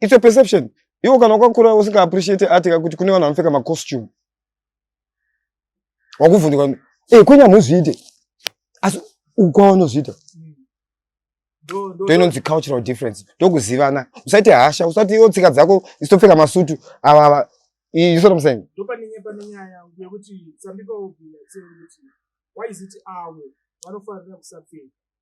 It's a perception. Iwo kana wakakura usinga appreciate art kakuti kune vanhu vanopfeka ma costume. Wakuvhunduka, eh kwenya muzviite. Asi ukwa unozviita. Ndoinonzi cultural difference. Ndokuzivana. Usaite hasha, usati iwo tsika dzako isitopfeka masutu ava ava. You see what I'm saying? Ndopanenye panenyaya yekuti some people will be like saying why is it avo vanofanira kusapfeka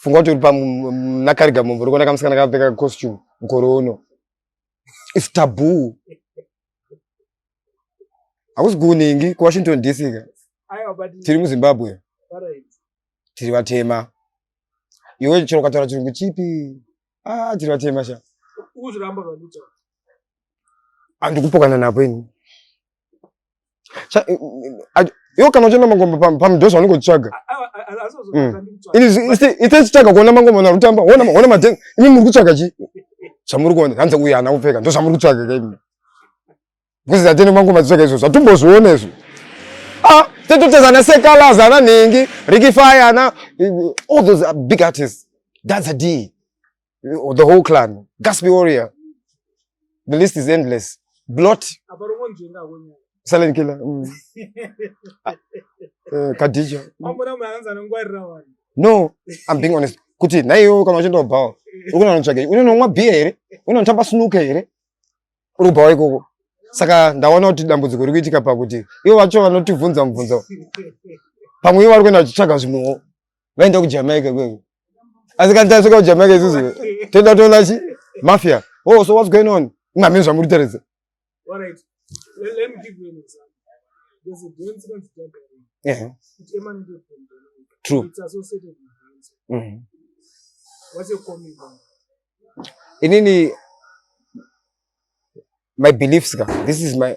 funga kuti uri panakarega mumvu uri kuona kamusikana kakapfeka costume mukore uno its taboo hakusi kuningi kuwashington dc ka tiri muzimbabwe tiri vatema iwe chero ukataura chirungu chipi ah, tiri vatema sha andikupokana napo ini iwo kana uchienda mangoma pamudhosa wanenge uchitsvaga itechitsvaga kuona mangoma narutamba ona matenga imi muri kutsvaga chi zvamuri kuona hanzi uyu haana kupfeka ndo zvamuri kutsvaga ka imi bcause zatene mangoma titsvaga izvo zvatumbozviona izvo ah, tetoteza ana sekalaza ana nhingi rikifai ana all those big artists that's a d or the whole clan gasby warrior the list is endless blot silent killer mm. uh, eh, kadija no i'm being honest kuti nhaiwo kana uchienda kubhawa ukunanotsvagei unonomwa bhiya here unonotamba snuka here uri kubhawa ikoko saka ndaona kuti dambudziko riri kuitika pakuti ivo vacho vanotivhunza mubvunzo pamwe ivo vari kuenda vachitsvaga zvimwewo vaenda kujamaica ikweyo asi kana tasvika kujamaica isusu toenda kutoona chi mafia oh so what's going on imamini zvamuri taridza true mm-hmm. inini my beliefs ka this is my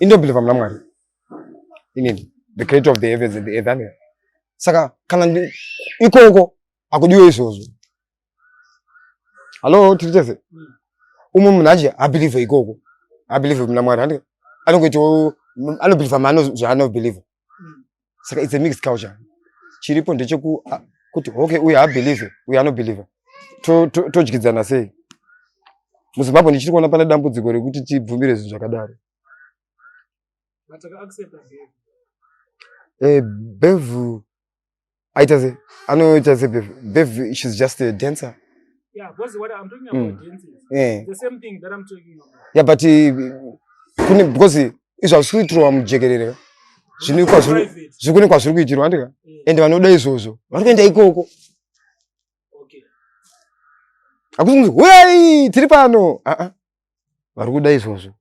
ini ndobhilivha muna mwari inini the creator of the heavens and the earth ane saka kana ikoko akudiwe izvozvo hallo tiri tese umwe munhu achi abhilivhe ikoko abhilivhe muna mwari anongoitawo anobhilivha maano zvaanobhilivha saka it's a mixed culture chiripo ndechekuti okay uyu haabelieve uyu anobelieve todyidzana to, to sei muzimbabwe ndichiri kuona pane dambudziko rekuti tibvumire zvinhu zvakadaro eh, bevhu aita se anoita se bev bev she's just a dancer yeah because what i'm talking about mm. dancing yeah. the same thing that i'm talking about yeah but uh, kune because izvo hazvisiitirwa mujekerere zvinoikwa zvekune kwazviri kuitirwa andika ende vanoda izvozvo vari kuenda ikoko hakusi kunzi huyai tiri pano aa vari kuda izvozvo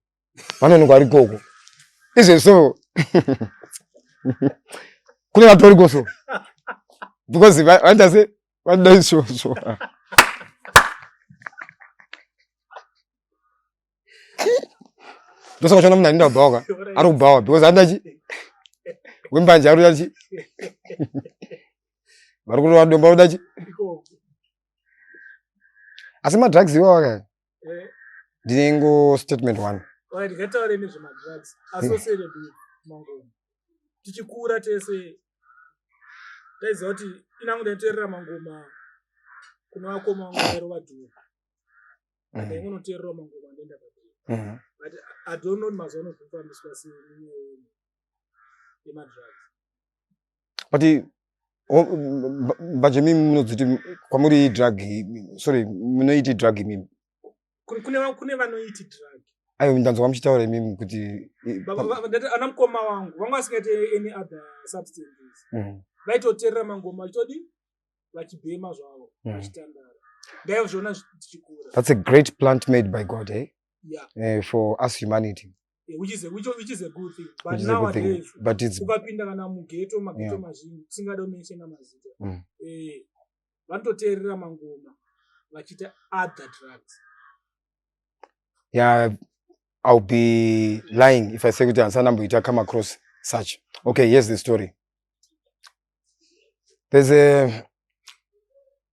vanonoka vari koko izve so kune vatori koso because vaita se vanoda izvozvo ndosaka uchiona munhu aninda kubhawa ka ari kubhawa because anoda chi wembanje ari kuda chi vari kurova domba uda chi asi madrugs iwawa kaya eh. ndinengo statement one ndikataure nezvemadrugs asosere mangoma tichikura tese taiziva kuti inangu ndaiterera mangoma kune vakoma vangu vairova dhuru ndaingonotererawo mm. mangoma andoenda padhuru mm-hmm. but i don't know mazuva anozvifambiswa sei yemadrugs but mbanje mimi munodziti kwamuri drug sorry munoiti drug mimi kune vanoiti drug ayo ndanzwa muchitaura imimi kuti ana mukoma wangu vanga vasingaite any other substances mm. vaitoterera mangoma achitodi vachibhema zvavo mm. vachitandara ndaizviona zvichikura that's a great plant made by god eh? yeah. uh, for us humanity which is a, which, which is a good thing but Which is a good thing. nowadays But it's ukapinda kana mugeto mageto Yeah. mazhinji tisingade kumenshena mazita Mm. eh, vanototeerera mangoma vachiita other drugs yeah, I'll be lying if I say kuti handisana mboita come across such. Okay, here's the story. There's a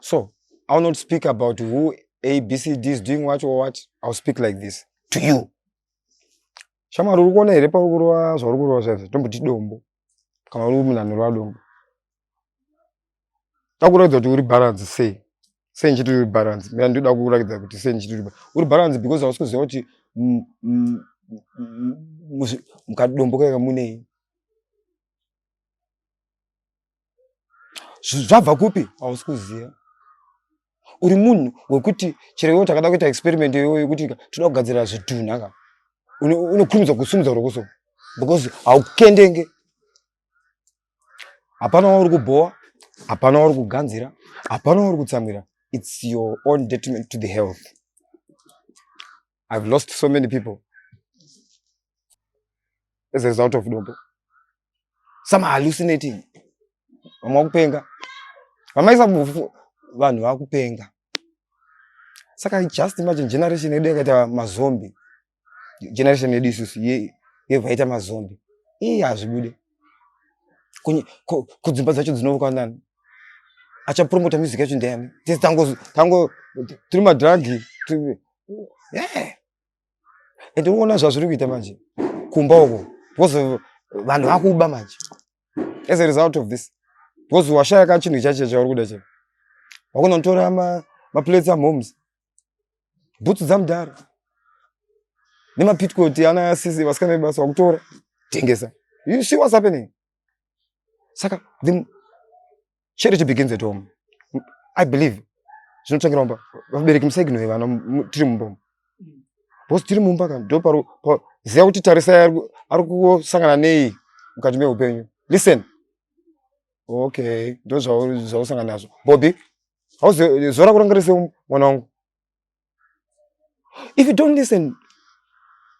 so i will not speak about who abcd is doing what or what i will speak like this to you shamwari uri kuona here pauri kurova zvauri kurova zvaizvo tomboti dombo kana uri munhu anorova dombo akuratidza kuti uri balance sei sei ndichiti uri balance mira ndinoda kuratidza kuti sei ndichiti uri balance because hausi kuziva kuti mukadombo kaika munei zvabva kupi hausi kuziva uri munhu wekuti chero iwo takada kuita experiment iyoyo yekuti toda kugadzirira zvitunha ka unokurumidza kusumudza rokoso because haukendenge hapana wauri kubhowa hapana wauri kuganzira hapana wauri kutsamwira its your own detriment to the health I've lost so many people as a result of dombo. Some are hallucinating. Vamwe vakupenga. Vamaisa mufu vanhu vakupenga. Saka just imagine generation yedu yakaita mazombi. Generation yedu isusu ye yevaita mazombi. Ii hazvibude. Kudzimba dzacho dzinovuka nani? Achapromota music yacho ndiyani? Tese tango tango tiri madrug and unoona zvazviri kuita manje kumba uko because vanhu vakuba manje as a result of this because washaya ka chinhu chacho chauri kuda chino wakunotora maplates amoms bhutsu dzamudhara nemapitcoti ana asisi vasikana vebasa wakutora tengesa you see what's happening saka the Charity begins at home. I believe. Zvinotangira mumba. Vabereki musaignore vana tiri mumba umu. Bosi tiri mumba kana ndo paro ziva kuti tarisai ari kusangana nei mukati meupenyu. Listen. Okay, ndo zvausangana nazvo. Bobby, how's your, zora kurangarisa mwana wangu? if you don't listen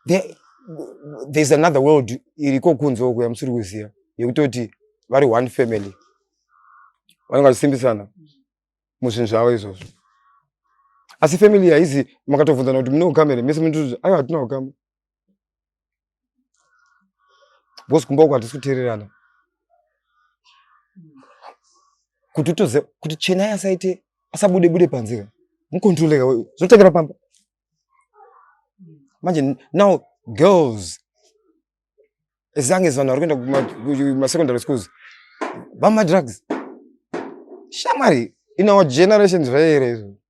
there, there's another world iriko kunze uko yamusiri kuziva yekutoti vari one family vanenge vachisimbisana muzvinhu zvavo izvozvo asi family haizi makatovunzana kuti mune ukama here mese munotuti aiwa hatina ukama because kumba uku hatisi kuteererana kuti utoze kuti chenai asaite asabude bude panzira mukontroleka zvotangira pamba manje now girls as long as vanhu vari kuenda kumasecondary schools vamadrugs shamwari in our generations zvaiere izvo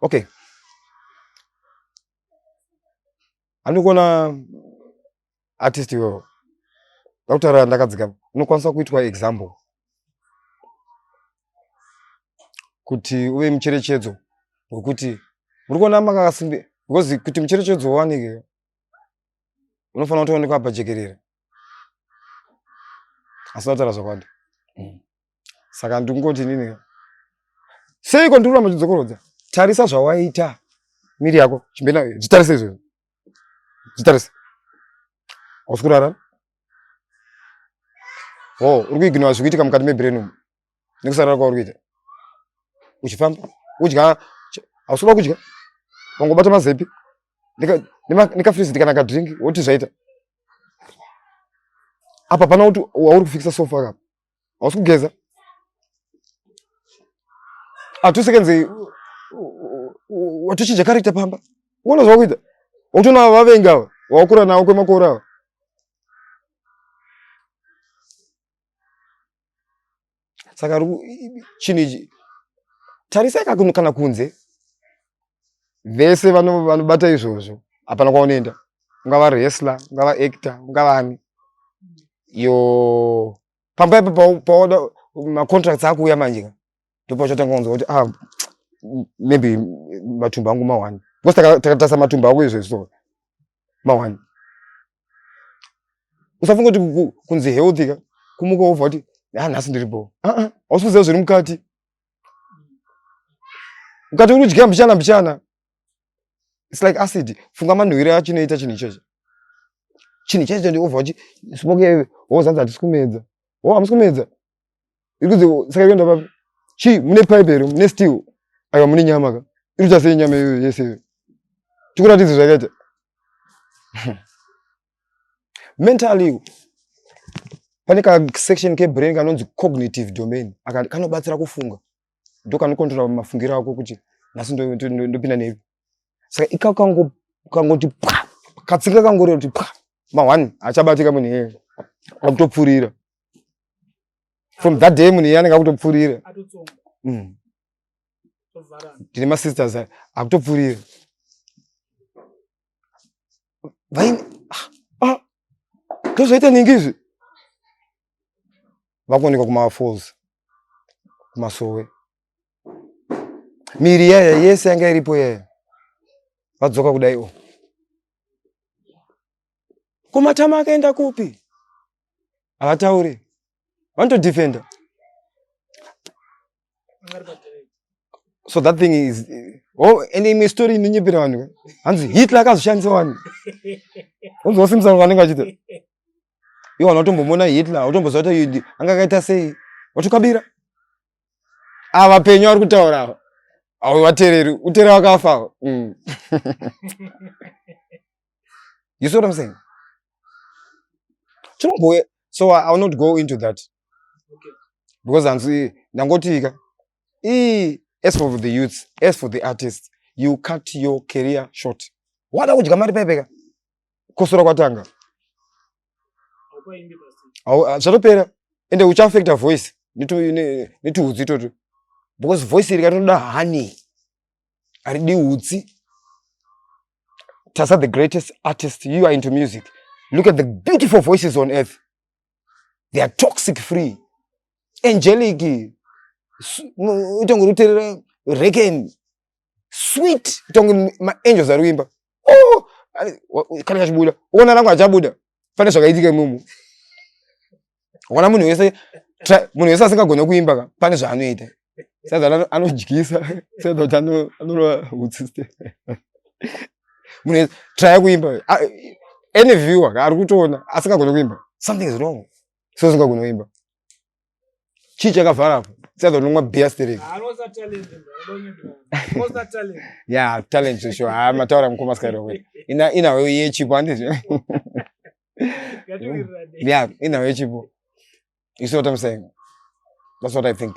okay andikuona artist iwewo ndakutaura ndakadzika unokwanisa kuitwa example kuti uve mucherechedzo wekuti muri kuona makakasimbi because kuti mucherechedzo uwanike unofanira kutoonekwa pajekerere asi ndakutaura zvakwadi mm. saka ndingoti nini seiko ndiri kuramba uchidzokorodza tarisa zvawaita miri yako chimbe nayo zvitarise izvozvo zvitarise hausi kurara ho uri kuiginowa zviri kuitika mukati mebrain umu nekusarara kwauri kuita uchifamba udya hausi kuda kudya wangobata mazepi nekafrizi ndikanaka drink woti zvaita apa pana kuti wauri kufikisa sofa kapa hausi kugeza atusekenzi watuchinja character pamba uona zvakuita wakutoona vavengi ava wawakura nawo kwemakore ava saka chinhu ichi tarisai kana kunze vese vanobata izvozvo hapana kwaunoenda ungava resla ungava acta ungavani yo pamba ipo paoda macontracts akuuya manje ka ndopachotanga kunzwa kuti ah, maybe matumbu angu mawani because takatarisa matumbu ako izvo so mawani usafunga kuti kunzi healthy ka kumuka wobva kuti ha ah, nhasi ndiri bho ah, ah, hausi kuziva zviri mukati ukati uri kudya mbichana mbichana its like acid funga manhuwiro acho inoita chinhu ichocho chinhu chaicho ndiovha uchi smoke wozanzi hatisi kumedza o oh, hamusi kumedza iri kunzi saka ikuenda papi chii mune pipe here mune steel aiwa mune nyama ka iri kuita sei nyama iyoyo yese iyoyo tikuratidze zvakaita mentally pane kasection kebrain kanonzi cognitive domain aka kanobatsira kufunga ndo kanokontrola mafungiro ako kuti nhasi ndopinda nepi saka ika kangoti pa katsinga kangoreva kuti pa mahwani achabatika munhu iyeye akutopfurira from that day munhu iye anenge akutopfurira mm. tine masisters akutopfurira vaine ah, ah, ndozvaita nhingi izvi vakuonekwa kumafalls kumasowe miri yaya yese yanga iripo yaya vadzoka kudai o kumatama akaenda kupi havataure vanotodefenda so that thing is oh ende imwe story inonyepera vanhu hanzi hitler akazoshandisa vanhu unzi wasimisa vanhu vanenge vachita iwo vanhu vatombomona hitler utomboziva kuti yudi anga akaita sei watukabira ava vapenyu vari kutaura ava awo vatereri utere wakafa mm. You see what I'm saying? Chinombouya. So I, I will not go into that. Okay. Because hanzi ndangotika. Ii as for the youths, as for the artists, you cut your career short. Wada kudya mari pepeka. Kosora kwatanga. Ah, zvatopera ende uchaafecta voice netiudzi itoto because voice iri katinoda honey haridi utsi tasa the greatest artist you are into music look at the beautiful voices on earth they are toxic free angelic itonge ruterera reken sweet itonge maangels ari kuimba oh, kana kachibuda uona rangu achabuda pane zvakaitika imomo ona munhu wese munhu wese asingagone kuimba ka pane zvaanoita sadza anodyisa sadza kuti anorova utsiste munhu wese traya kuimba any viewer ari kutoona asingagone kuimba something is wrong so usingagone kuimba chii chakavhara apo sadza unonwa beer sterek ya talent zvesho haa mataura mukoma skyrowe inawo yechipo andizvo ya inawo yechipo you see what i'm saying that's what i think